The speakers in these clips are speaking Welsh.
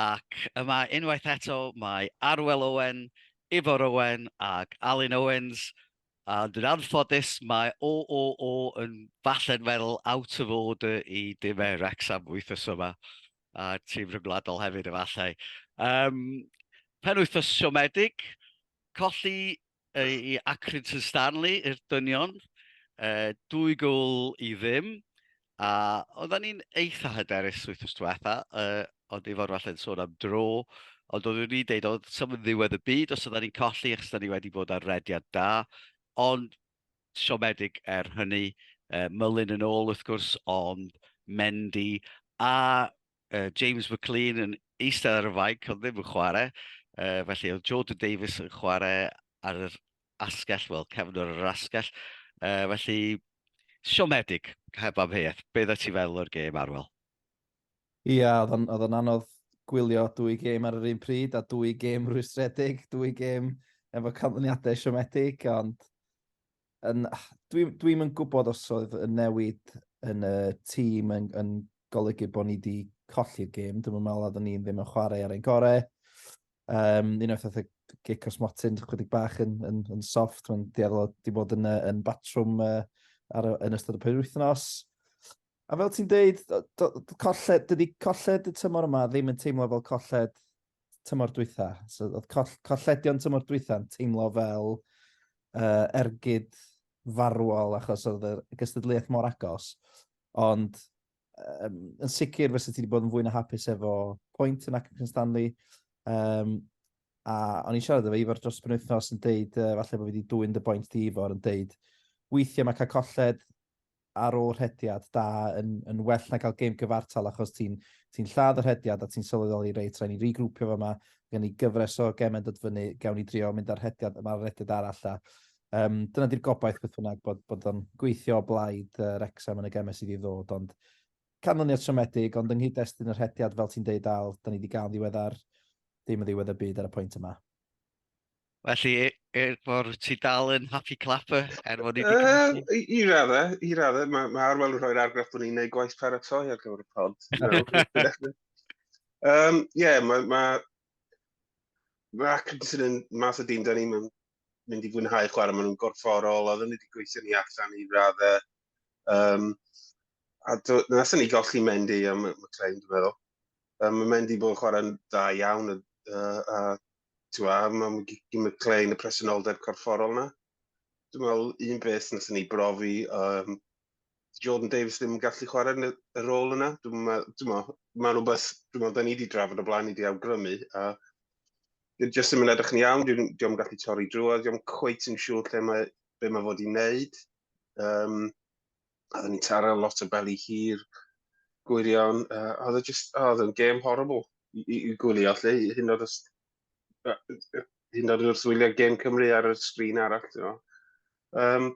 Ac yma unwaith eto mae Arwel Owen, Ifor Owen ac Alun Owens, ond yn anffodus mae OOO yn falle'n meddwl out of order i dimau Wrecsam wythnos yma, a tîm rhyngwladol hefyd efallai. Yym, penwythnos siomedig, colli i Acrid Sir Stanley i'r dynion, uh, dwy gwl i ddim, a oedden ni'n eitha hyderus wythnos diwetha, uh, ond i fod falle yn sôn am dro, ond oeddwn ni'n deud oedd sef yn ddiwedd y byd os oedden ni'n colli, achos oedden ni wedi bod ar rediad da, ond siomedig er hynny, uh, mylun yn ôl wrth gwrs, ond Mendy, a uh, James McLean yn eistedd ar y fainc, ond ddim yn chwarae. Uh, felly oedd Jordan Davies yn chwarae ar yr asgell, wel, cefn ar yr asgell. Uh, felly, siomedig, heb am heiaeth. Be dda ti fel o'r gêm arwel? Ia, oedd o'n anodd gwylio dwy gêm ar yr un pryd, a dwy gêm rwystredig, dwy gêm efo canlyniadau siomedig, ond Yn, dwi, dwi'm yn gwybod os oedd y newid yn y tîm yn, yn golygu bod ni wedi colli'r gêm. Dwi'n meddwl oeddwn ni'n ddim yn chwarae ar ein gorau. Um, un o'r pethau gic os motyn, chwedig bach yn, yn, yn soft, mae'n dueddol wedi bod yn, yn batrwm uh, ar, yn ystod y penwythnos. A fel ti'n deud, colled, dydy colled y tymor yma ddim yn teimlo fel colled tymor dwytha. So, oedd coll, colledion tymor dwytha yn teimlo fel uh, ergyd farwol achos oedd y gystadleuaeth mor agos. Ond um, yn sicr fysa ti wedi bod yn fwy na hapus efo pwynt yn Acton Stanley. Um, a o'n i'n siarad efo Ifor dros penwythnos yn deud, uh, falle bod fi wedi dwy'n dy boint di Ifor, yn deud, weithiau mae cael colled ar ôl rhediad da yn, yn well na cael gêm gyfartal achos ti'n ti lladd y rhediad a ti'n sylweddoli reit, rhaid ni rigrwpio fo yma, gen ni gyfres o gemau dod fyny, gawn ni drio mynd ar rhediad yma'r rhediad arall a um, dyna di'r gobaith beth bynnag bod, bod o'n gweithio o blaid uh, Rexham yn y gemau sydd i ddod ond canlyniad siomedig ond yng nghyd-destun y rhediad fel ti'n deud al, da ni wedi gael ddiweddar ddim yn ddiwedd y byd ar y pwynt yma. Felly, e, e, mor ti dal yn happy clapper er fod ni wedi cymryd... Uh, I raddau, i raddau. Mae ma Arwel yn rhoi'r argraff bod ni'n gwneud gwaith paratoi ar gyfer y pod. Ie, um, yeah, mae... Ma, mae Atkinson yn mas o dim da ni, mae'n mynd i fwynhau chwarae, maen nhw'n gorfforol, oedden ni wedi gweithio ni allan i raddau. Um, a do, nes ni golli Mendy am y claim, dwi'n meddwl. Um, mae Mendy bod yn chwarae'n dda iawn, a, a Ti'n meddwl, mae'n mynd clein y presenoldeb corfforol yna. Dwi'n meddwl, un beth nes ni brofi, um, Jordan Davis ddim yn gallu chwarae yn y rôl yna. Dwi'n meddwl, mae'n rhywbeth, dwi'n meddwl, da ni wedi drafod o blaen, ni wedi awgrymu, a dwi'n jyst ddim yn edrych yn iawn, dwi'n ddim gallu torri drwodd, dwi'n cweit yn siŵr lle mae, be mae fod i wneud. Um, Oedden ni'n taro lot o beli hir, gwirion. Uh, oedd e just, oh, oedd e'n game horrible i, i, i gwylio, lle, hyn oedd hyn oedd wrth wylio game Cymru ar y sgrin arall, ti'n meddwl. Um,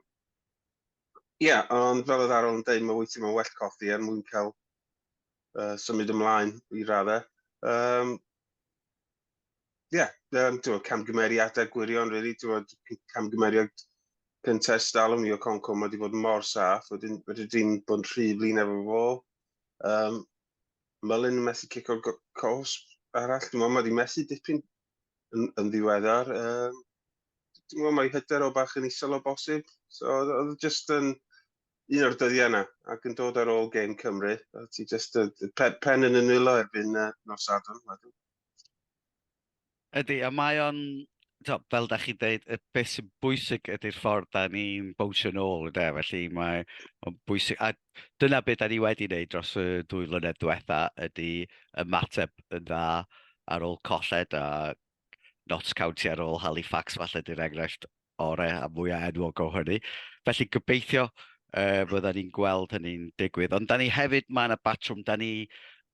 Ie, yeah, ond fel oedd Arol yn dweud, mae weithio mewn well coffi er mwyn cael uh, symud ymlaen i raddau. Um, ie, yeah, um, ti'n camgymeriadau gwirion, really, ti'n camgymeriad cyntaf stalwm i o Conco, mae wedi bod mor saff, wedyn wedi di'n bod yn rhy flin efo fo. Um, Mylun yn methu cic o'r cos arall, dwi'n meddwl, mae wedi methu dipyn yn, yn ddiweddar. Um, dwi'n meddwl, mae hyder o bach yn isel o bosib, so oedd just yn un o'r dyddiau yna, ac yn dod ar ôl gêm Cymru, a ti just uh, pen, pen yn y nwylo erbyn uh, nos Sadwrn. Ydy, a mae o'n, tibod, fel dach chi'n deud, y beth sy'n bwysig ydy'r ffordd da ni'n bownsio nôl, ynde. Felly mae o'n bwysig... A dyna beth da ni wedi wneud dros y dwy flynedd diwetha, ydy ymateb yn dda ar ôl colled a Notts County ar ôl Halifax, falle, 'di'r enghraifft orau a mwyaf enwog o hynny. Felly gobeithio uh, fydda ni'n gweld hynny'n digwydd. Ond da ni hefyd, mae yna batrwm, da ni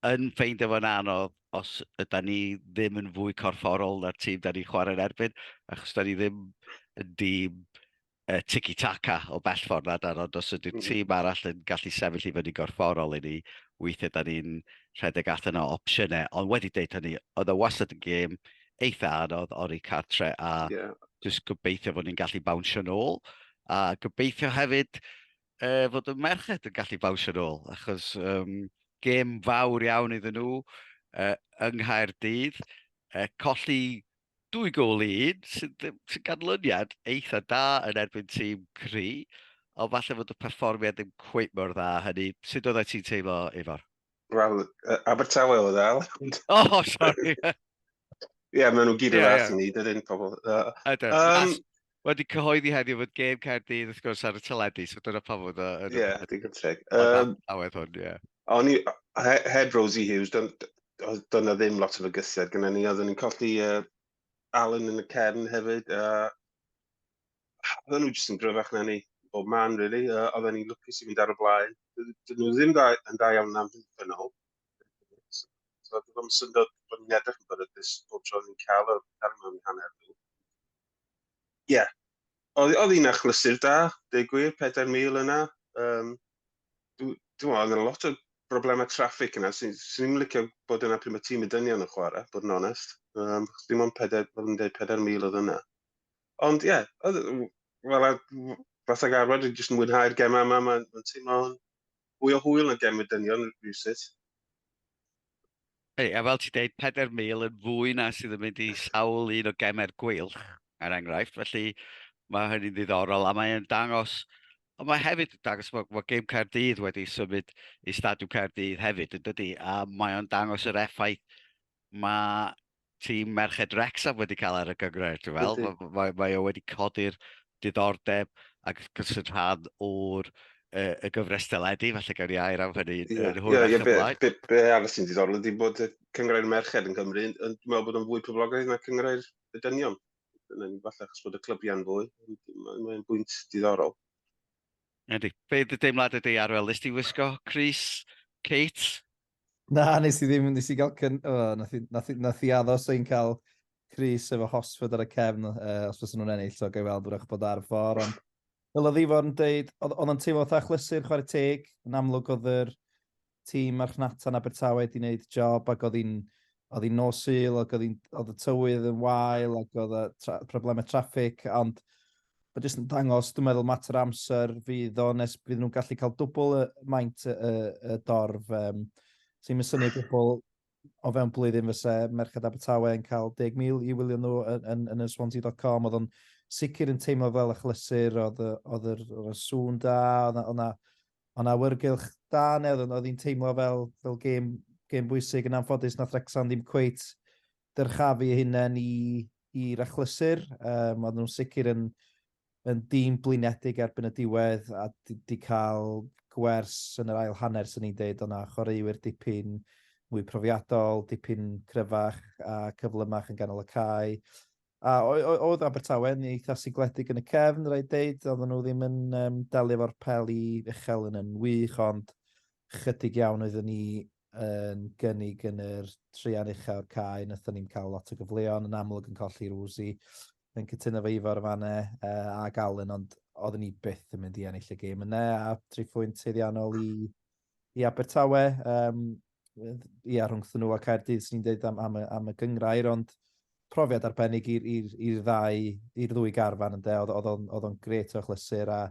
yn ffeindio fo'n anodd os yda ni ddim yn fwy corfforol na'r tîm da ni chwarae'n erbyn, achos da ni ddim yn dîm uh, tiki-taka o bell ffordd na dan, ond os ydy'r mm-hmm. tîm arall yn gallu sefyll i fyny gorfforol i ni, weithiau da ni'n rhedeg allan o opsiynau, ond wedi deud hynny, oedd y wasad yn gêm eitha anodd ori cartre a yeah. just gobeithio fod ni'n gallu bawnsio nôl a gobeithio hefyd uh, fod y merched yn gallu bawnsio nôl achos um, gêm fawr iawn iddyn nhw uh, yng Nghaerdydd uh, colli dwy gol i un sy'n sy ganlyniad eitha da yn erbyn tîm cri ond falle fod y perfformiad ddim cweith mor dda hynny. Sut oeddai ti'n teimlo, Ifor? Wel, yy, Abertawe oedd e, Al. O, sori! Ie, maen nhw gyd yn Ie, yeah, ie. i ni, dydyn pobl. Yy, Ydyn. Yym. A- Wedi cyhoeddi heddiw fod gêm Caerdydd wrth gwrs ar y teledu, so dyna pam fod o yn y Ie, digon teg. Yym, awedd hwn, ie. O'n i, he- heb Rosie Hughes, dyn- d- oedd- doedd 'na ddim lot o fygythiad gyda ni. Oeddwn ni'n colli yy, Alan yn y cefn hefyd, a oedden nhw jyst yn gryfach na ni bob man, really. Uh, oedden ni'n lwcus i fynd ar y blaen. Dyn nhw ddim da, yn da iawn na'n fynd yn ôl. So, dyn nhw'n syndod bod ni'n edrych yn beryglus bob tro ni'n cael o'r cario mewn hanner nhw. Ie. Yeah. Oedd hi'n achlysur da, deg gwir, 4,000 yna. Um, Dwi'n meddwl, yna lot o broblemau traffig yna, sy'n sy ni'n licio bod yna pryd mae tîm y dynion yn chwarae, bod yn onest. Um, dim ond 4,000 oedd yna. Ond ie, oedd... Wel, a- w- fatha garfod, dwi jyst yn mwynhau'r gemau yma, mae'n ma teimlo'n fwy o hwyl na gem y dynion rhywsut. Hey, a fel ti dweud, 4,000 yn fwy na sydd yn mynd i sawl un o gemau'r gweilch, er enghraifft. Felly mae hynny'n ddiddorol a mae'n dangos, ond mae hefyd yn dangos bod, bod gêm Caerdydd wedi symud i Stadiwm Caerdydd hefyd, yn dydy? A mae o'n dangos yr effaith mae tîm Merched Wrexham wedi cael ar y gyngred, dwi'n fel. Mae, mae, mae o wedi codi'r diddordeb ac wrth gwrs yn rhan o'r uh, y gyfres deledu, felly gawn ni air am hynny yeah. yn hwyrach yeah, yeah, ymlaen. Be, be, be arall sy'n diddorol ydy bod y cyngrau'r merched yn Cymru, yn, dwi'n meddwl bod o'n fwy poblogaidd na cyngrau'r y dynion. Yn falle achos bod y clybiau'n fwy, mae'n bwynt diddorol. Ydy. Be dy deimlad ydy Arwel? Nes ti wisgo Cris, Kate, Na, nes i ddim, nes i gael cyn... O, nath i, nath i, nath i addo sy'n cael Chris efo Hosford ar y cefn, uh, os fysyn nhw'n ennill, so gael weld wrach bod ar y ffordd, ond fel oedd Ifon yn dweud, oedd o'n teimlo fatha chlysur chwarae teg, yn amlwg oedd yr tîm marchnata yn Abertawe wedi gwneud job ac oedd hi'n oedd hi'n nos sul ac oedd, oedd y tywydd yn wael ac oedd y tra, problemau traffig ond Mae jyst yn dangos, dwi'n meddwl, mater amser fydd o nes bydd nhw'n gallu cael dwbl y maint y, y, y dorf. Um, sy'n mynd syniad dwbl o fewn blwyddyn fysa Merched Abertawe yn cael 10,000 i wylio nhw yn, yn, yn y swansea.com. Oedd o'n sicr yn teimlo fel achlysur, oedd, oedd yr, yr sŵn da, oedd yna Ond awyrgylch da neu oedd hi'n teimlo fel, fel gêm, gêm bwysig yn anffodus na Wrexham ddim cweit dyrchafu eu hunain i, i'r achlysur. Um, oedden nhw'n sicr yn, yn dîm blinedig erbyn y diwedd a di, di cael gwers yn yr ail hanner sy'n ni'n deud o'na chwaraewyr dipyn mwy profiadol, dipyn cryfach a cyflymach yn ganol y cae. A oedd Abertawe yn eitha sigledig yn y cefn, rhaid deud, oedden nhw ddim yn um, delio fo'r pel i uchel yn yn wych, ond chydig iawn oeddwn ni yn gynnig yn yr trian ucha o'r cae, nathon ni'n cael lot o gyfleon, yn amlwg yn colli Rwsi, yn cytuno fe Ifor y fanne, uh, a Galen, ond oedden ni byth yn mynd i ennill y gêm yna, a tri phwynt teiddiannol i, i Abertawe, um, ia, rhwngthyn nhw a Caerdydd, sy'n ni'n dweud am, am, y, am y gyngrair, ond profiad arbennig i'r, i'r, i'r ddau, i'r ddwy garfan yn de, oedd o'n gret o chlysur a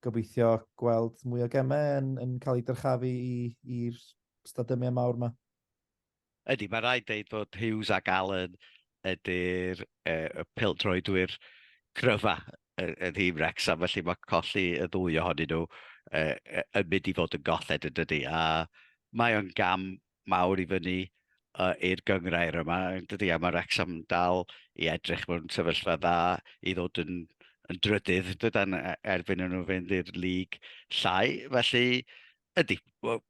gobeithio gweld mwy o gemau yn, yn cael ei dyrchafu i'r stadymiau mawr yma. Ydy, mae rhaid deud bod Hughes ac Allen ydy'r e, peldroedwyr cryfa yn hîm Rex, a felly mae colli y ddwy ohonyn nhw e, yn mynd i fod yn golled yn dydy. A mae o'n gam mawr i fyny uh, i'r gyngrair yma, dydy, a mae Wrexham dal i edrych mewn sefyllfa dda i ddod yn, yn drydydd, dydan, e, erbyn nhw fynd i'r lig llai. Felly, ydy, well,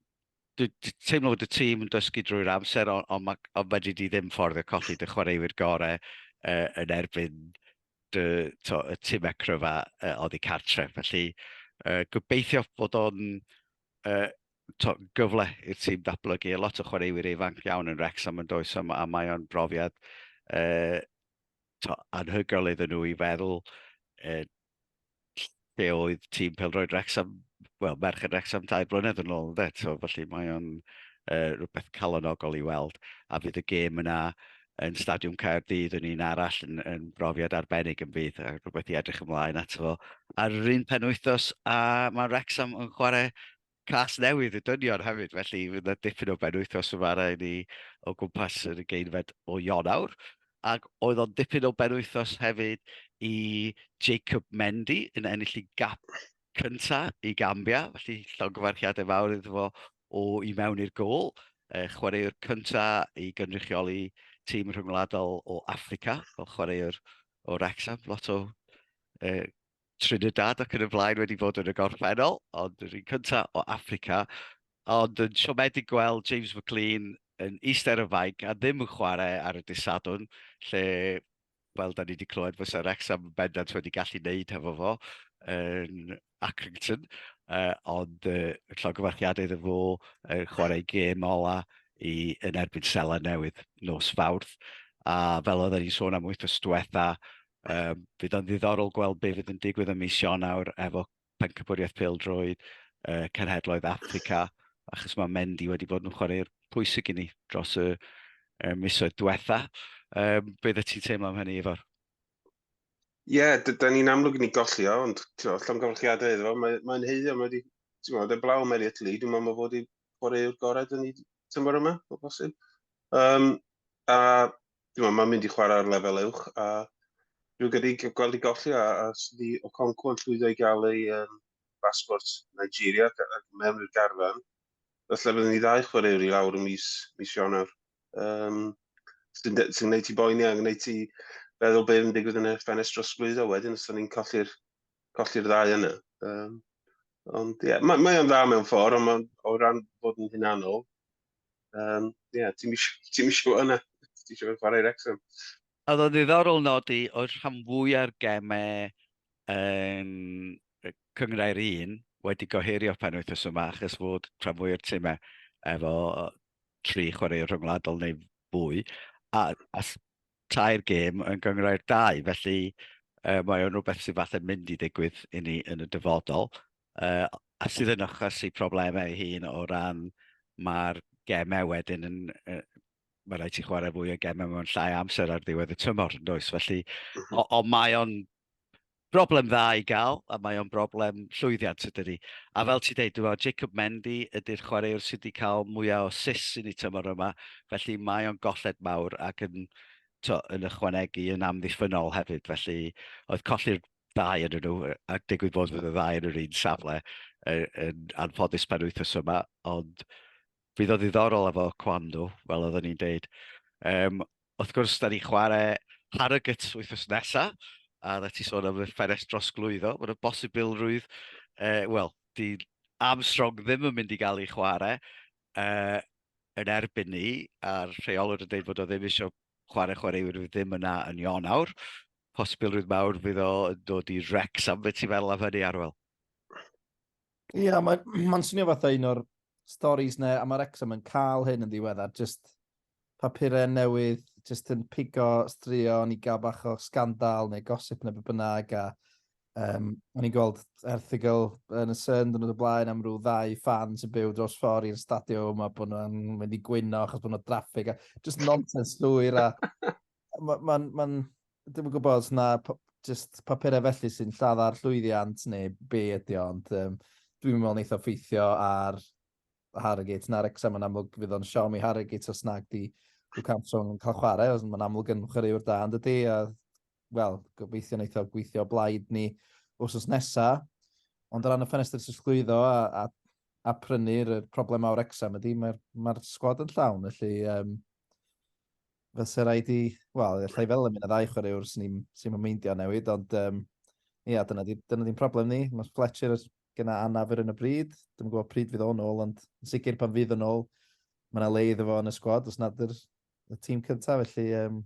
teimlo bod y tîm yn dysgu drwy'r amser, ond on, on, on fedri di ddim ffordd y colli dy chwaraewyr gorau uh, yn erbyn dy, to, y tîm ecryfa uh, oddi cartre. Felly, uh, gobeithio bod o'n uh, to, gyfle i'r tîm datblygu. A lot o chwaraewyr ifanc iawn yn Rex am yn does am, a mae o'n brofiad uh, to, anhygoel iddyn nhw i feddwl uh, lle oedd tîm pelroed Rex am, well, merched Rex am dau blynedd yn ôl, dde, so, felly mae o'n uh, rhywbeth calonogol i weld, a fydd y gêm yna yn Stadiwm Caerdydd yn un arall yn, yn brofiad arbennig yn fydd a rhywbeth i edrych ymlaen ato fo. Ar yr un pen wythnos a mae Wrexham yn chwarae cas newydd y dynion hefyd, felly fydd yna dipyn o ben wythnos yma i ni o gwmpas yr ugeinfed o Ionawr. Ac oedd o'n dipyn o ben wythnos hefyd i Jacob Mendy yn ennill i gap cyntaf i Gambia, felly llongyfarchiadau fawr iddo fo o i mewn i'r gol, uh, chwaraewr cynta i gynrychioli tîm rhyngwladol o Africa, fel chwaraewr o Wrexham, lot o uh, Trinidad ac yn y blaen wedi bod yn y gorffennol, ond yr un cynta o Africa, ond yn siomedig gweld James McLean yn eistedd ar y fainc a ddim yn chwarae ar y disadwn, lle fel da ni wedi clywed, fysa Wrexham bendant wedi gallu wneud hefo fo yn Accrington, uh, ond uh, llogyfarchiadau iddo fo uh, chwarae gêm ola i, yn erbyn Sela Newydd nos Fawrth. A fel oedd ni'n sôn am wythnos diwetha, um, fydd o'n ddiddorol gweld beth fydd yn digwydd ym mis Ionawr efo Pencampwriaeth Pêl-droed uh, Cenhedloedd Africa, achos mae Mendy wedi bod yn chwarae'r pwysig i ni dros y uh, misoedd diwetha. Um, be ddod ti'n teimlo am hynny, Ifor? Ie, yeah, da ni'n amlwg ni golli o, ond llongyfarchiadau iddo fo, mae'n mae heiddo, mae wedi, ti'n gwybod, y blaw Mary Italy, dwi'n meddwl bod wedi chwarae'r gorau dyn ni tymor yma, o bosib. Um, a Dwi'n meddwl, mae'n mynd i chwarae ar lefel uwch, a rwy'n gydig gweld i golli, a, a sydd i Okonkwo yn llwyddo i gael ei um, basbort Nigeria mewn i'r garfan. Felly byddwn ni ddau chwaraewr i lawr y mis, mis Ionawr. Um, sy'n sy gwneud ti boeni a gwneud ti feddwl beth yn digwydd yn y ffenest dros blwyddo wedyn os ni'n colli'r colli ddau yna. Um, ond ie, yeah, mae, mae o'n dda mewn ffordd, ond mae, o ran bod yn hunanol, Um, yeah, ti'n eisiau yna, ti'n eisiau chwarae Wrexham. A ddo'n ddiddorol nodi oedd rhan fwy ar gemau yn cyngrau'r un wedi goheirio'r penwythnos yma achos fod rhan fwy o'r tymau efo tri chwarae rhyngwladol neu fwy a, a tair gêm yn gyngrau'r dau. Felly e, mae o'n rhywbeth sy'n falle mynd i ddigwydd i ni yn y dyfodol. uh, a sydd yn achosi problemau ei hun o ran mae'r gemau wedyn yn, uh, mae rhaid ti chwarae fwy o gemau mewn llai amser ar ddiwedd y tymor, yn does? Felly, mhm. o, o mae o'n broblem dda i gael, a mae o'n broblem llwyddiant ydy ni. A fel ti dweud, dwi'n Jacob Mendy ydy'r chwaraewr sydd wedi cael mwyaf o sis i ni tymor yma, felly mae o'n golled mawr ac yn, to, yn ychwanegu yn amddiffynol hefyd. Felly, oedd colli'r ddau yn nhw, ac digwydd bod fod y ddau yn yr un safle yn, yn anffodus pan wythnos yma, ond bydd o ddiddorol efo Kwando, fel oedden ni'n deud. Um, wrth gwrs, da ni chwarae Harrogate wythnos nesaf, a dda ti sôn am y ffenest dros glwyddo, mae'n y bosibilrwydd, uh, wel, di Armstrong ddim yn mynd i gael ei chwarae uh, yn erbyn ni, a'r rheolwr yn dweud bod o ddim eisiau chwarae chwaraewyr ddim yna yn Ionawr, posibilrwydd mawr fydd o yn dod i Rex am beth ti'n meddwl am hynny Arwel? Ie, yeah, mae'n ma swnio fatha un o'r storys na, a mae Rexham yn cael hyn yn ddiweddar, just papurau newydd, just yn pigo straeon i gael bach o sgandal neu gosip neu beth bynnag, a um, o'n i'n gweld erthigol yn y Sun dyn nhw'n blaen am rhyw ddau fan sy'n byw dros ffordd i'r stadiwm a bod nhw'n mynd i gwyno achos bod nhw'n draffig a just nonsense llwyr a mae'n... Ma, ma Dwi'n yn gwybod os na just papurau felly sy'n lladdar llwyddiant neu be ydy o, ond um, dwi'n meddwl wneud o ffeithio ar Harrogate na'r exam yn amlwg fydd o'n siom i Harrogate os nag di Luke Armstrong yn cael chwarae, os mae'n amlwg yn chwaraewr da yn dydy, a wel, gobeithio wneud o gweithio blaid ni wrsos nesa, ond o ran y ffenestr sy'n llwyddo a, a, a prynu'r problemau o'r exam ydy, mae'r mae sgwad yn llawn, felly um, fysa rhaid i, wel, allai fel yn mynd a ddau chwaraewr sy'n ni'n sy meindio newid, ond um, ia, yeah, dyna dyna di'n problem ni. Mae Fletcher gyda anaf ar un o bryd, dwi'n gwybod pryd fydd o'n ôl, ond yn sicr pan fydd o'n ôl, mae yna le iddo fo yn y sgwad, os nad yr, y tîm cyntaf, felly, um,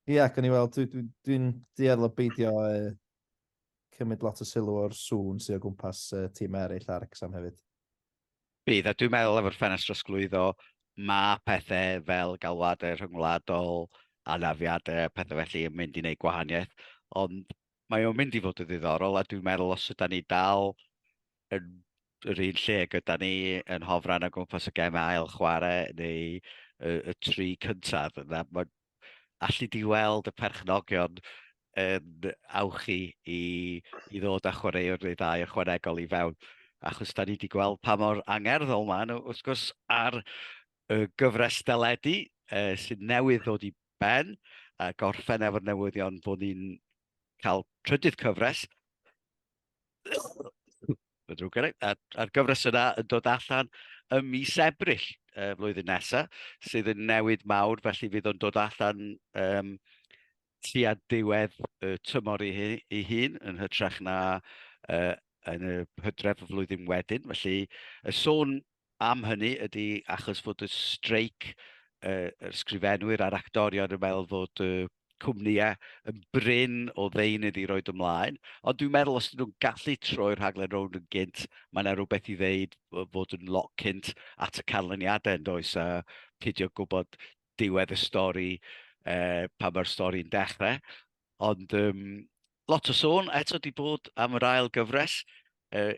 ia, yeah, gan i weld, dwi'n dwi, dwi, dwi duedd o beidio uh, cymryd lot o sylw o'r sŵn sy'n o gwmpas uh, tîm eraill ar Exam hefyd. Bydd, a dwi'n meddwl efo'r ffenest drosglwyddo, mae pethau fel galwadau rhyngwladol, anafiadau, pethau felly yn mynd i wneud gwahaniaeth, ond mae o'n mynd i fod yn ddiddorol, a dwi'n meddwl os yda ni dal yn yr un lle gyda ni yn hofran o gwmpas y gemau ail chwarae neu y, y tri cyntaf, yna, mae alli di weld y perchnogion yn awchu i, i ddod â chwaraewr neu ddau ychwanegol i fewn, achos da ni wedi gweld pa mor angerddol maen nhw, wrth gwrs, ar y gyfres deledu uh, sydd newydd ddod i ben, a gorffen efo'r newyddion bod ni'n cael trydydd cyfres, Mae'n drwg gen i. A'r, a'r gyfres yna yn dod allan ym mis Ebrill y uh, flwyddyn nesaf, sydd yn newid mawr, felly fydd o'n dod allan um, tua diwedd y tymor i, hi, i hun, yn hytrach na uh, yn y hydref y flwyddyn wedyn. Felly, y sôn am hynny ydy achos fod y streic uh, yr sgrifenwyr a'r actorion yn meddwl fod y uh, cwmnïau yn bryn o ddeunydd i roed ymlaen. Ond dwi'n meddwl os ydyn nhw'n gallu troi'r rhaglen rownd yn gynt, mae yna rhywbeth i ddeud fod yn lot cynt at y canlyniadau yn does a pidio gwybod diwedd y stori uh, pan mae'r stori'n dechrau. Ond um, lot o sôn eto di bod am yr ail gyfres. Uh,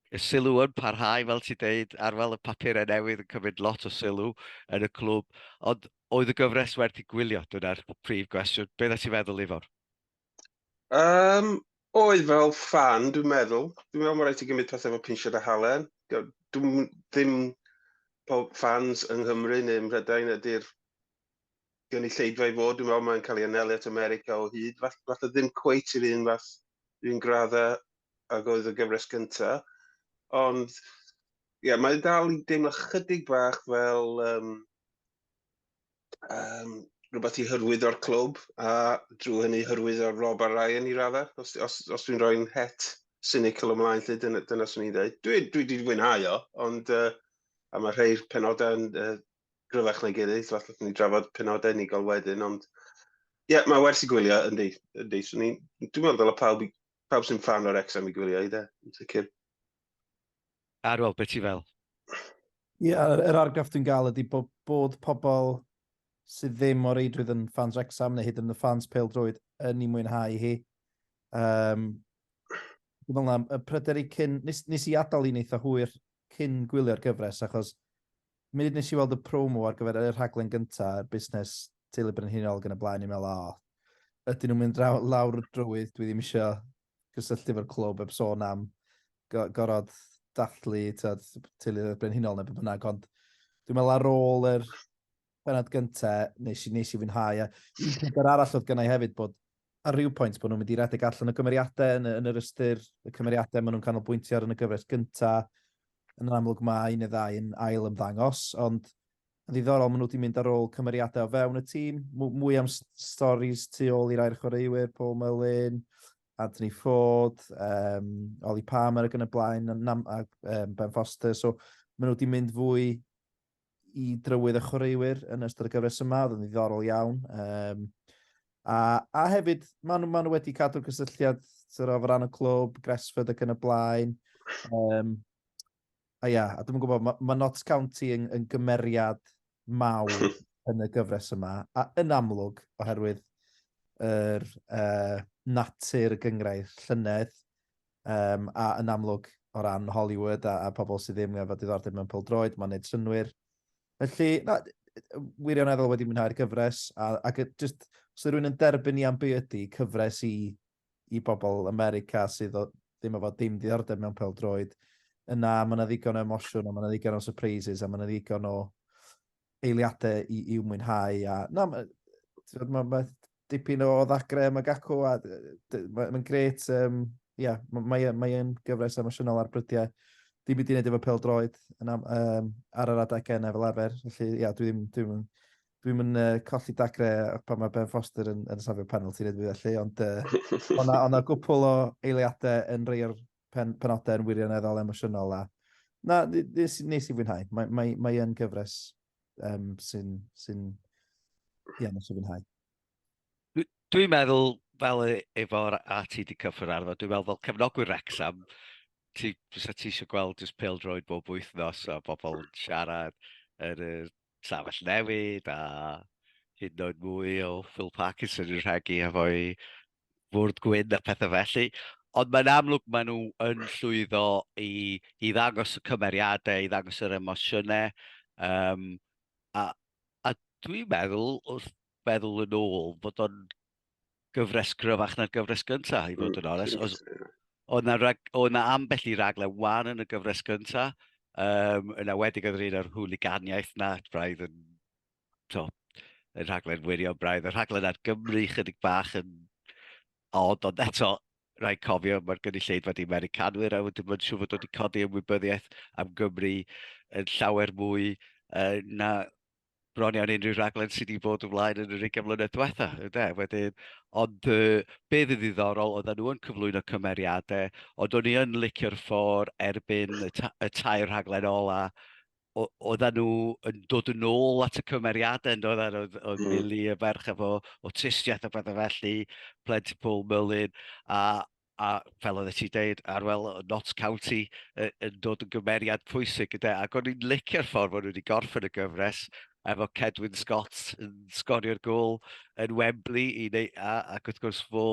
Y sylw yn parhau, fel ti'n deud, ar fel y papurau newydd yn cymryd lot o sylw yn y clwb, ond oedd y gyfres werth i gwylio, dyna'r prif gwestiwn. Beth ydych ti'n feddwl, Ifor? Um, oedd fel fan, dwi'n meddwl. Dwi'n meddwl mae rhaid i gymryd pethau fel pinsiad a halen. Dwi'n ddim pob fans yng Nghymru neu ym Mhrydain ydy'r gynulleidfa i fod, dwi'n meddwl mae'n cael ei anelu at America o hyd, falle fall ddim cweit i'r un fath, un gradda ag oedd y gyfres gynta, ond ie, yeah, mae'n dal i deimlo chydig bach fel um, um, rhywbeth i hyrwyddo'r clwb a drwy hynny hyrwyddo Rob a Ryan i raddau, os, os, os dwi'n rhoi'n het cynical ymlaen lle dyna, dyna swn i'n dweud. Dwi, dwi wedi fwynhau o, ond uh, a mae rhai'r penodau yn uh, gryfach na'i gilydd, so allwch ni drafod penodau unigol wedyn, ond ie, yeah, mae werth i gwylio, yndi, yndi. So, ni, dwi'n meddwl dylai pawb, pawb sy'n fan o'r exam i gwylio i dde, yn sicr. Ar ôl, beth ti fel? Ie, yeah, yr, yr argraff dwi'n gael ydy bod, bod pobl sydd ddim o reidrwydd yn fans Wrexham neu hyd yn y fans pel drwyd yn ei mwynhau hi. Um, dwi'n meddwl am y pryder i cyn... Nes, nes i adael i'n eitha hwyr cyn gwylio'r gyfres achos Munud nes i weld y promo ar gyfer y rhaglen gynta y busnes teulu brenhinol ag yn y blaen i'n meddwl a o ydyn nhw'n mynd draw, lawr y drywydd dwi ddim eisiau cysylltu efo'r clwb heb sôn am go, gorod dathlu tyd, teulu brenhinol neu beth bynnag ond dwi'n meddwl ar ôl yr penod gynta nes i, nes i fwynhau a un peth arall oedd gynnau hefyd bod ar ryw pwynt bod nhw'n mynd i redeg allan y gymeriadau yn, yn yr ystyr y cymeriadau maen nhw'n canolbwyntio ar yn y gyfres gyntaf. Yn amlwg mae un neu ddau yn ail ymddangos, ond yn ddiddorol maen nhw wedi mynd ar ôl cymeriadau o fewn y tîm, mwy am storys tu ôl i'r air chwaraewyr, Paul Mullin, Anthony Ford, um, Ollie Palmer ac yn y blaen, a, a um, Ben Foster, so maen nhw wedi mynd fwy i drywydd y chwaraewyr yn ystod y gyfres yma, oedd yn ddiddorol iawn. Um, a, a hefyd, maen nhw, ma nhw wedi cadw cysylltiad sy'n rhaid ran y clwb, Gresford ac yn y blaen. Um, a ia, a dwi'n gwybod, mae ma Notts County yn, yn gymeriad mawr yn y gyfres yma, a yn amlwg, oherwydd yr uh, natur y gyngrair llynedd, Yym, a yn amlwg, o ran Hollywood a, a pobl sydd ddim efo diddordeb mewn pildroed, mae'n neud synwyr. Felly, na, wirioneddol wedi mwynhau'r gyfres, a, ac just, os rwy'n yn derbyn i am be ydy cyfres i, i bobl America sydd o, ddim efo dim diddordeb mewn pildroed, yna mae yna ddigon o emosiwn, a mae yna ddigon o surprises, a mae yna ddigon o eiliadau i, i'w mwynhau. A, na, mae'n ma, ma dipyn o ddagre am y gacw a mae'n ma gret. Um, yeah, mae'n mae, mae e gyfres emosiynol ar brydiau. Dim byd i wneud efo pel droed yn am, um, ar yr adegau yna fel arfer. Felly, ia, dwi ddim, dwi ddim, dwi ddim yn uh, colli dagre pan mae Ben Foster yn, yn safio penalty neu dwi felly, ond uh, o'na, ona gwpl o eiliadau yn rei o'r pen, penodau yn wirioneddol emosiynol a na, nes, nes i fwynhau. Mae, mae, mae yn gyfres um, sy'n, sy'n, ie, yeah, nes i fwynhau. Dwi'n meddwl, fel e, efo'r a ti wedi cyffwrdd arno, dwi'n meddwl fel cefnogwyr Rexham, ti, fysa ti eisiau gweld just pil droed bob wythnos a bobl yn siarad yn y safell newid a hyd yn oed mwy o Phil Parkinson yn rhegi efo'i fwrdd gwyn a phethau felly, ond mae'n amlwg maen nhw yn llwyddo i, i ddangos y cymeriadau, i ddangos yr emosiynau, um, a, a dwi'n meddwl, wrth feddwl yn ôl, bod o'n gyfres gryfach na'r gyfres gyntaf, i fod yn mm, onest. Os, o na, rag, o na ambell i ragle wan yn y gyfres gyntaf, um, yn awedig oedd yr un o'r hwliganiaeth na, braidd yn to, y rhaglen wirio braidd, y rhaglen ar Gymru chydig bach yn od, ond eto, rhaid cofio, mae'r gynulleidfa wedi Americanwyr, a wedyn mae'n siŵr fod wedi codi ymwybyddiaeth am Gymru yn llawer mwy uh, na bron iawn unrhyw raglen sydd wedi bod yn flaen yn yr 20 mlynedd diwetha. Yde? Wedyn, ond uh, be fydd ddiddorol, oedden nhw yn cyflwyno cymeriadau, ond o'n i yn licio'r ffordd erbyn y, ta y tair rhaglen ola, oedden nhw yn dod yn ôl at y cymeriadau yn dod ar oedd, oedd mm. Milly y ferch efo awtistiaeth a bethau felly, Plenty Paul Merlin, a, a fel oedd ti dweud, Arwel Notts County yn dod yn gymeriad pwysig gyda, ac o'n i'n licio'r ffordd o'n nhw wedi gorffen y gyfres efo Cedwyn Scott yn sgorio'r gol yn Wembley i neu, a, ac wrth gwrs fo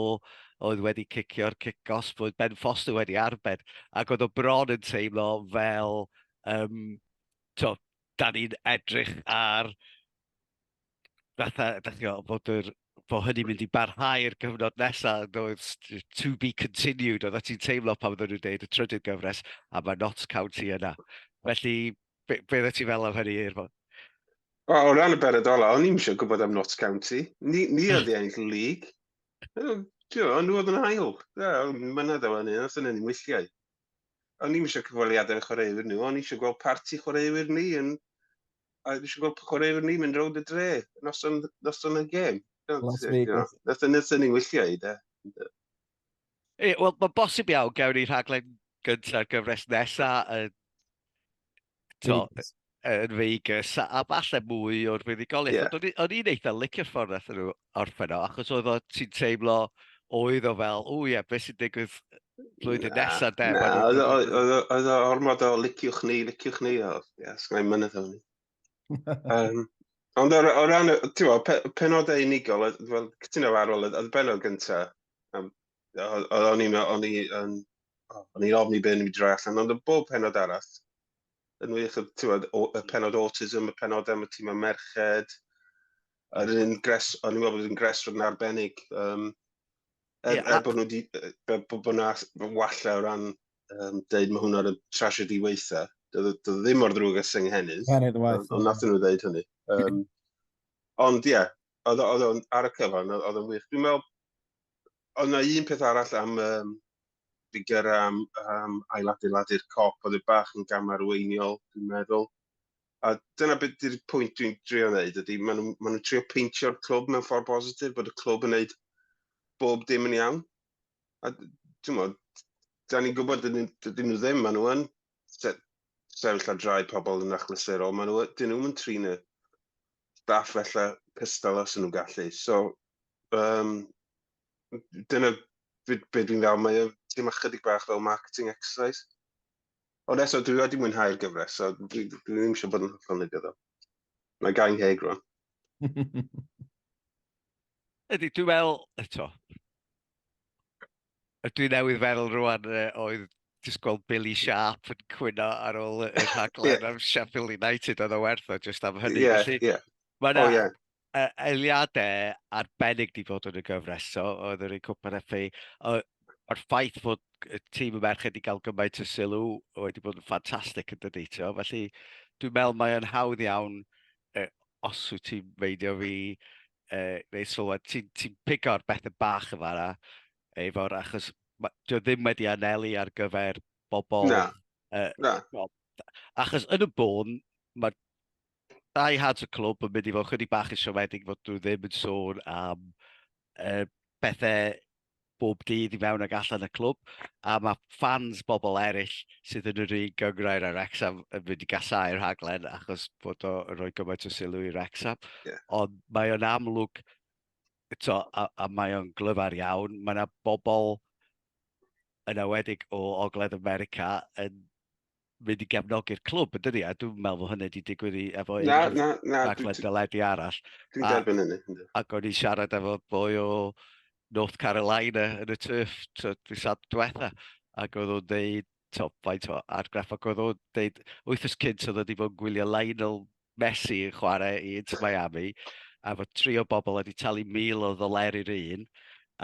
oedd wedi cicio'r cic os bod Ben Foster wedi arbed ac oedd o bron yn teimlo fel Yym, tibod, dan ni'n edrych ar fatha, dach chi'n gwybod, bod yr... bod hynny'n mynd i barhau'r cyfnod nesa, yn does, to be continued, oeddet ti'n teimlo pan oedden nhw'n dweud y trydydd gyfres, a mae Notts County yna. Felly, be, be oeddet ti'n fel am hynny, Irfon? Wel, o ran y beredola, o'n i'n eisiau gwybod am Notts County. Ni, ni oedd i ennill y lig. Ti'n nhw oedd yn ail. Ie, Mynedd o hynny, os yna ni'n wythiau. O'n i'm eisiau cyfweliadau y chwaraewyr nhw, o'n eisiau gweld parti chwaraewyr ni yn... A eisiau gweld chwaraewyr ni mynd rownd y dre, noson, noson y gêm. Noson noson ni'n wyllio i, da. Wel, mae'n bosib iawn, gawn ni rhaglen gyntaf gyfres nesaf yn to, yn Vegas, a, a falle mwy o'r fuddugoliaeth. Yeah. Ond o'n i'n eitha licio'r ffordd nath nhw orffen o, achos oedd o ti'n teimlo oedd o fel, o ie, yeah, beth sy'n digwydd flwyddyn na, nesaf de? Na, oedd o ormod o liciwch ni, liciwch ni, o, ie, yeah, sgwneud mynydd o'n ni. um, ond o, o ran, ti'n penodau unigol, fel cytuno ar ôl, oedd y benod gyntaf, um, o'n i'n o'n i yn o'n i'n ofni be' o'n i'n droi allan ond yn bob penod arall yn wych y t'wod o y penod autism, y penod am y tîm am merched, yr un gres o'n i'n meddwl bod yn gres fod yn arbennig um, er, yeah, er bod nhw wedi bod bo, bo na walla o ran um, deud mae hwnna'r tragedy weitha. Doedd e, e ddim o'r ddrwg ys ynghennydd. Ond nath nhw ddeud hynny. Um, ond ie, yeah, oedd o'n ar y cyfan, oedd o'n wych. Dwi'n meddwl oedd yna un peth arall am um, ffigur am, am ailadeiladu'r cop, oedd e bach yn gamarweiniol, dwi'n meddwl. A dyna beth ydy'r pwynt dwi'n drio wneud, ydy maen nhw'n ma nhw trio peintio'r clwb mewn ffordd positif, bod y clwb yn wneud bob dim yn iawn. A dwi'n meddwl, da ni'n gwybod dyn nhw ddim, maen nhw yn sefyll ar drai pobl yn achlysurol, maen nhw, dyn nhw'n trin y, staff fella cystal os nhw'n gallu. So, um, dyna beth be dwi'n gael. Mae dim ychydig bach fel marketing exercise. Ond eto, dwi wedi mwynhau'r gyfres, so dwi, dwi ddim eisiau bod yn hollol negyddol. Mae gael ei heg rwan. Ydy, dwi'n meddwl, eto, A dwi newydd feddwl rwan uh, oedd just gweld Billy Sharp yn cwyno ar ôl y rhaglen yeah. am Sheffield United oedd o werth o just am hynny. Yeah, Felly, yeah. Mae yna oh, yeah. uh, eiliadau arbennig di fod yn y gyfres, so, oedd yr un cwpan FA. Mae'r ffaith fod y tîm y merched i gael gymaint o sylw wedi bod yn ffantastig yn dydy. Felly, dwi'n meddwl mae'n hawdd iawn, uh, os wyt ti'n meidio fi, uh, neu sylwad, ti'n ti pigo'r bethau bach yma na, efo'r achos, dwi ddim wedi anelu ar gyfer bobl. Na, uh, na. No, achos yn y bôn, mae dau had y clwb yn mynd i fod chydig bach yn siomedig fod nhw ddim yn sôn am uh, bethau bob dydd i mewn ac allan y clwb, a mae ffans bobl eraill sydd yn yr un gyngrair ar Wrexham yn mynd i gasau rhaglen achos bod o'n rhoi gymaint o sylw i Wrexham. Yeah. Ond mae o'n amlwg, to, a, a mae o'n glyfar iawn, mae yna bobl yn awedig o Ogledd America yn mynd i gefnogi'r clwb, yn dydi? A dwi'n meddwl fod hynny wedi digwydd i efo un na, na, na, raglen deledu arall. Dwi'n derbyn hynny. Ac o'n i'n siarad efo boi o North Carolina yn y turf dwi sad diwetha, ac oedd o'n dweud, to, faint o argraff, ac oedd o'n dweud, wythnos cynt oedd wedi bod yn gwylio Lionel Messi yn chwarae i Inter Miami, a fod tri o bobl wedi talu 1,000 o ddoleri yr un,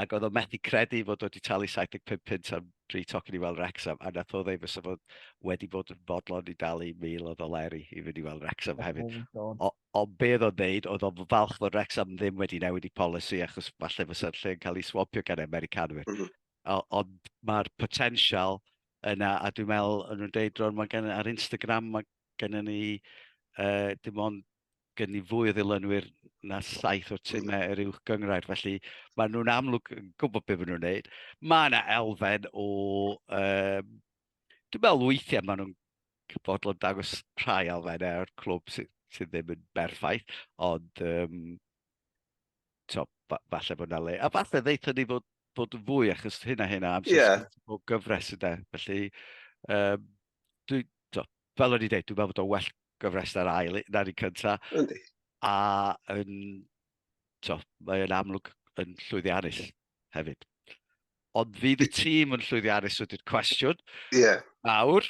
ac oedd o'n methu credu fod wedi talu 75 punt am dri tocyn i weld Wrexham, a nath o ddeud fysa fod wedi bod yn fodlon i dalu 1,000 o ddoleri i fynd i weld Wrexham hefyd. Oh ond be oedd o'n ddeud, oedd o'n falch fod Wrexham ddim wedi newid i polisi, achos falle fysa'r lle yn cael ei swampio gan Americanwyr. Mm -hmm. Ond mae'r potensial yna, a dwi'n meddwl, yn nhw'n deud, Ron, mae gen, ar Instagram, mae Gennym ni uh, dim ond gen ni fwy o ddilynwyr na saith o'r timau yr uwch gyngrair, felly maen nhw'n amlwg yn gwybod beth maen nhw'n gwneud. Mae yna elfen o... Um, dwi'n meddwl weithiau maen nhw'n bodlon dangos rhai elfennau o'r clwb sydd, sy ddim yn berffaith, ond um, to, fa falle bod yna le. A falle ddeitha ni fod, bod yn fwy, achos hyn a hyn a amser yeah. o gyfres yna. Felly, um, dwi, to, fel o'n i'n dweud, dwi'n meddwl bod o'n well gyfres ar ail na'r un cynta. Yndi. A yn, to, mae'n amlwg yn llwyddiannus hefyd. Ond fydd y tîm yn llwyddiannus wedi'r cwestiwn. Ie. Yeah. Nawr,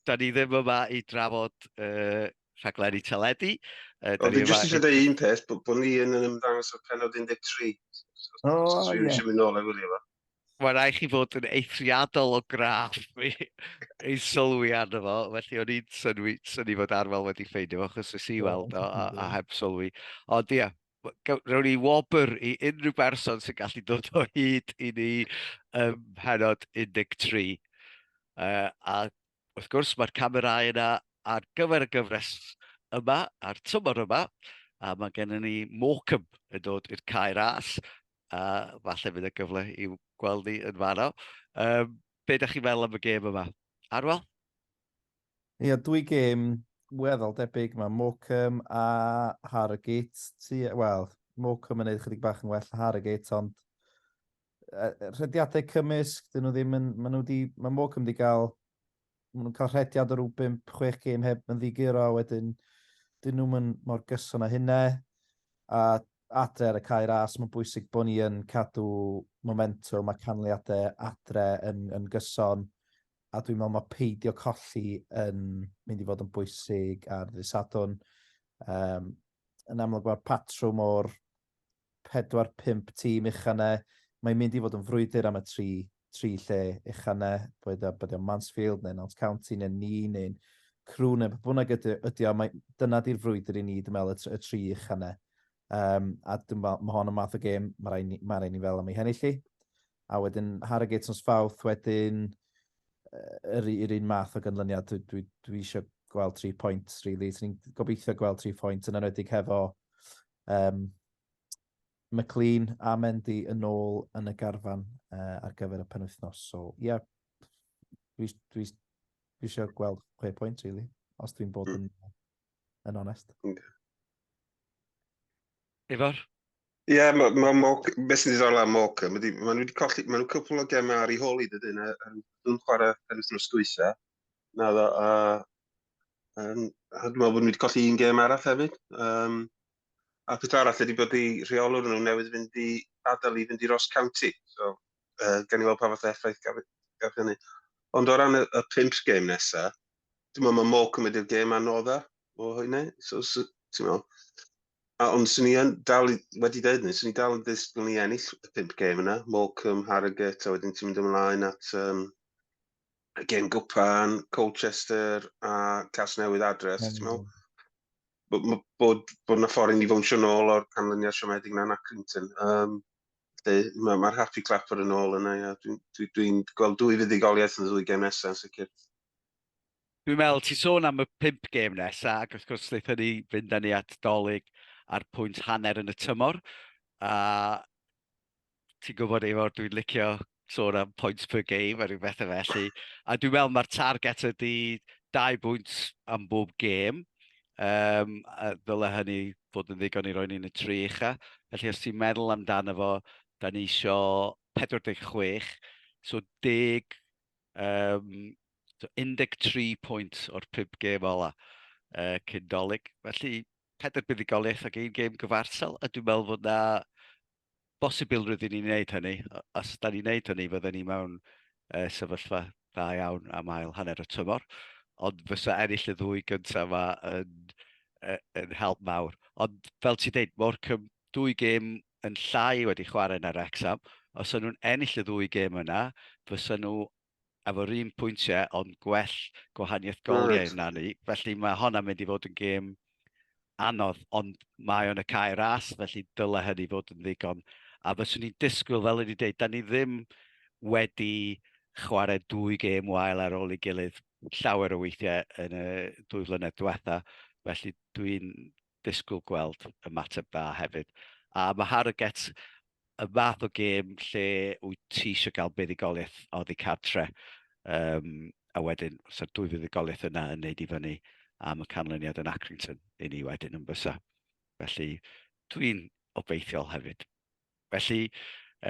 da ni ddim yma i drafod uh, rhaglenni teledu. Uh, o, fi jyst eisiau dweud un peth, bod bo ni yn ymddangos o penod 13. O, ie. Dwi'n eisiau mynd nôl a wylio fo. Mae'n rhaid chi fod yn eithriadol o graff i, i sylwi arno fo, felly o'n i'n synwi, syni fod Arwel wedi ffeindio fo, achos nes i weld o a, a heb sylwi. Ond ia, rhaid ni wobr i unrhyw berson sy'n gallu dod o hyd i ni ym mhenod 13. Uh, a Wrth gwrs, mae'r camerâu yna ar gyfer y gyfres yma a'r tymor yma, a mae gennym ni Morecambe yn dod i'r cae ras, a falle bydd y gyfle i gweld ni yn fanno. Um, be ydych chi'n meddwl am y gêm yma? Arwel? Ie, yeah, dwy gêm weddol debyg. Mae Morecambe a Harrogate, wel, Morecambe yn ei chydig bach yn well na Harrogate, ond rhediadau cymysg, dyn nhw ddim yn, maen nhw wedi, mae Morecambe wedi cael, maen nhw'n cael rhediad o rhyw 5-6 gêm heb yn ddiguro, wedyn dyn nhw'n mynd mor gyson â hynna, a adre ar y cae ras, mae'n bwysig bod ni yn cadw momentum a canlyniadau adre yn, yn gyson, a dwi'n meddwl mae peidio colli yn mynd i fod yn bwysig ar ddydd Sadwn. Um, yn amlwg mae'r patrwm o'r pedwar, pump tîm uchaf yna. Mae'n mynd i fod yn frwydr am y tri, tri lle uchaf yna, boed o, bod o'n Mansfield neu Nant County neu ni neu'n crw neu beth bynnag ydy, ydy o, mae, dyna di'r frwydr i ni, dwi'n meddwl, y, tr, y tri uchaf yna. Um, a dwi'n meddwl, mae hon yn math o gêm, mae rhaid ni, mae rhaid ni fel am ei hennill i. A wedyn Harrogate yn sfawth, wedyn yr, yr un math o gynlyniad, dwi, dwi, dwi eisiau gweld tri pwynt, really. So ni'n gobeithio gweld tri pwynt yn enwedig hefo Um, McLean a Mendy yn ôl yn y garfan uh, ar gyfer y penwythnos. So, ie, yeah, dwi, dwi, dwi eisiau gweld chwe pwynt, really, os dwi'n bod hmm. yn, yn onest. Okay. Ifor? Ie, yeah, mae ma, ma, beth sy'n ddiddorol am Moca, mae nhw wedi colli, mae nhw cwpl o gemau ar ei holi dydyn, a nhw'n chwarae yn wythnos dwytha, na ddo, a Um, a dwi'n meddwl bod nhw wedi colli un gêm arall hefyd. Um, a peth arall ydy bod i rheolwr nhw newydd fynd i adael i fynd i Ross County. So, uh, gan i weld pa fath effaith gaf, gaf hynny. Ond o ran y, y pimp gêm nesaf, dwi'n meddwl mae Mo cymryd i'r gêm anodda o hynny. So, so ti'n meddwl. A, ond swn i yn dal i, wedi dweud ni, swn i dal yn ddisgwyl ni ennill y pimp gêm yna. Morecambe, Harrogate, a wedyn ti'n mynd ymlaen at um, Gen Gwpan, Colchester a Casnewydd adre, os ti'n meddwl. Bod, bod, bod na ffordd i ni fawnsio nôl o'r canlyniad siomedig na'n Accrington. Um, Mae'r ma Happy Clapper yn ôl yna, ia. Dwi'n dwi, dwi, dwi gweld dwy fuddugoliaeth yn y ddwy gem nesaf yn sicr. Dwi'n meddwl, ti sôn am y pimp gêm nesa, ac wrth gwrs lleithon ni fynd â ni at dolyg ar pwynt hanner yn y tymor. A ti'n gwybod Efor, dwi'n licio sôn am points per game a rhyw bethau felly. A dwi'n meddwl mae'r target ydy dau bwynt am bob gêm. Um, a ddyle hynny fod yn ddigon i roi ni'n y tri ucha. Felly os ti'n meddwl amdano fo, da ni isio 46, so deg, um, so 13 pwynt o'r pub gêm ola uh, cyn dolyg. Felly, pedwar buddigoliaeth ac un gêm gyfarsel, a dwi'n meddwl fod na bosibilrwydd i ni wneud hynny. Os da ni'n wneud hynny, fydden ni mewn uh, sefyllfa dda iawn am ail hanner y tymor. Ond fysa ennill y ddwy gyntaf yma yn, yn help mawr. Ond fel ti dweud, mor cym, dwy gêm yn llai wedi chwarae yn yr Exam. Os o'n nhw'n ennill y ddwy gêm yna, fysa nhw efo'r un pwyntiau ond gwell gwahaniaeth goliau na ni. Felly mae honna mynd i fod yn gêm anodd, ond mae o'n y cae ras, felly dylai hynny fod yn ddigon. A fyswn i'n disgwyl, fel ydy dweud, da ni ddim wedi chwarae dwy gêm wael ar ôl ei gilydd llawer o weithiau yn y dwy flynedd diwetha. Felly dwi'n disgwyl gweld ymateb dda hefyd. A mae Hard to Get y fath o gêm lle wyt ti eisiau cael buddugoliaeth oddi cartre, um, a wedyn, os yw'r dwy fuddugoliaeth yna yn neud i fyny am y canlyniad yn Accrington i ni wedyn yn bysa. Felly, dwi'n obeithiol hefyd. Felly,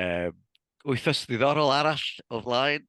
um, wythnos ddiddorol arall o flaen,